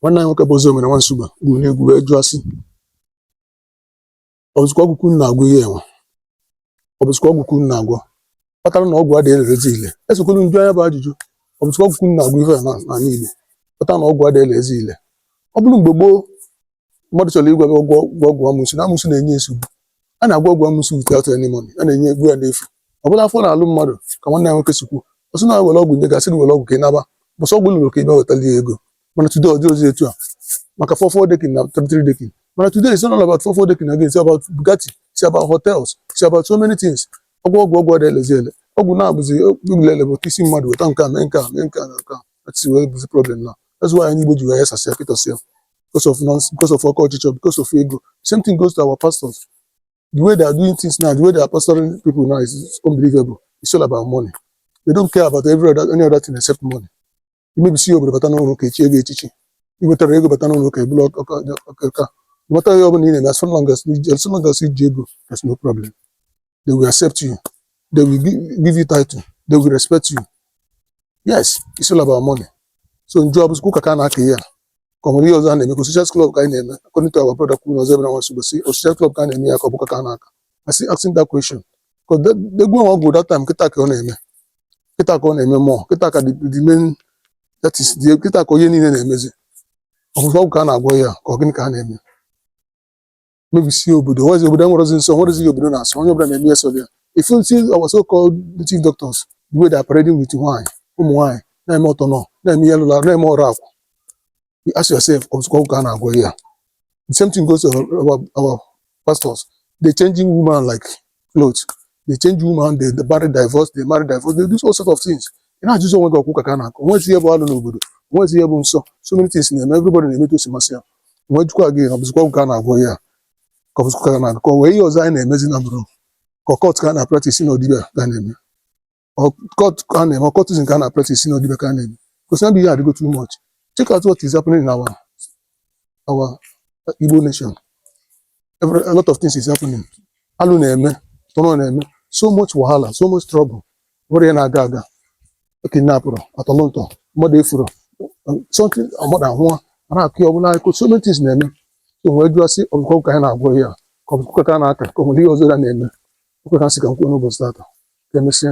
nwanne anyị nwoke bụ Ozoemena nwa Nsugbe gụrụ n'egwu wee jụọ sị ọ bụzikwa ọgwụ ka unu na-agwọ ihe enwe ọ bụzikwa ọgwụ ka unu na-agwọ kpatara na ọgwụ adịghị elezi ile esokwala m jụa nya bụ ajụjụ ọ bụzikwa ọgwụ ka unu na-agwọ ihe a na- n'anị Igbo kpatara na ọgwụ adịghị elezi ile ọ bụrụ mgbe gboo mmadụ chọrọ ịgwọ gị ọgwụ ọgwụ ọgwụ amụsụ na amụsụ na-enye nsogbu a na-agwọ ọgwụ amụsụ without any money a na-enye ọgwụ ya n'efu ọ bụrụ afọ na-alụ mmadụ ka nwanne anyị nwoke si kwuo ọ sị na e were ọgwụ nye gị a sị gị were ọgwụ ka ị naba ọ bụ sọ ọgwụ lụrụ ka ị bịa wetali ya ego mana today ọ dịghịzi etu a maka four four decking na three three decking mana today is not all about four four decking again it's about Bugatti it's about hotels it's about so many things ọgwụ ọgwụ ọgwụ adịghị elezi ile ọgwụ na-abụzi lele bụ isi mmadụ weta nke a mee nke a mee nke a mee nke a si wee bụzi problem na that's why anị Igbo ji wee ghasasịa pịtọsịa because of nonsense because of oke ọchịchọ because of ego same thing goes to our pastors the way they are doing things now the way they are pastoring people now is unbelievable it's all about money they don't care about every other any other thing except money ị mebisịa obodo bata n'ụlọ ụka e chie gị echichi i wetara ego bata n'ụlọ ụka e bulu ọka nweta ihe ọ bụla ị na-eme as long as i ji ego there's no problem they will accept you they will give you title they will respect you yes it's all about money so m jụọ ọ bụzi ụka ka a na-aka ihe a ka o nwere ihe ọzọ a na-eme ka ọ social club ka anyị na-eme according to our brother kwuru na Ozoemena nwa Nsugbe sị ọ social club ka a na-eme ihe a ka ọ bụ ụka ka a na-aka I still asking that question because the the gwọ ọgwụ that time okite ka ọ na-eme okite ka ọ na-eme mm okite ka the the main that is the okite ka onye niile na-emezi ọ bụzi ọgwụ ka a na-agwọ ihe a ka ọ gịnị ka a na-eme mebisie obodo o nwezi obodo enwerọzi nsọ o nwezighị ihe obodo na-asọ onye ọbụla na-eme ihe sọ ya if you see our so called native doctors the way they are parading with nwaanyị ụmụ nwaanyị na-eme ọtọ nọ na-eme ihe lụla na-eme ọrụ akwụ you ask yourself ọ bụzikwa ọgwụ ka a na-agwọ ihe a the same thing goes to our, our, our pastors they changing woman like clothes they change woman they marry divorce they marry divorce they do all sort of things ị na-ajụzi onwe gị ọ kwa ụka ka a na-aka o nwezi ihe bụ alụ n'obodo o nwezi ihe bụ nsọ so many things na-eme everybody na-eme etu o si masị ya m wee jụkwa gị na ọ bụzikwa ọgwụ ka a na-agwọ ihe a ka ọ bụzikwa ụka a na-aka o nwee ihe ọzọ anyị na-emezi na bụrụ ka occult ka a na-apractice na ọ dibịa ka a na-eme occult ka a na-eme occultism ka a na-apractice na ọ dibịa ka a na-eme gosi na ihe adịgo too much check out what is happening in our our Igbo nation Every, a lot of things is happening alụ na-eme tọrọ na-eme so much wahala so much trouble o nwerọ ihe na-aga aga kidnapụrụ a tọlụ ntọ mmadụ efuru something mmadụ apụọ ara akụ ya ọbụla akụ so many things na-eme so wee jụọ sị ọ bụkwa ọgwụ ka anyị na-agwọ ihe a ka ọ bụ ụka ka a na-aka ka o nwere ihe ọzọ anyị na-eme okwu ka m sị ka m kwuo n'ụbọchị tata ka emesịa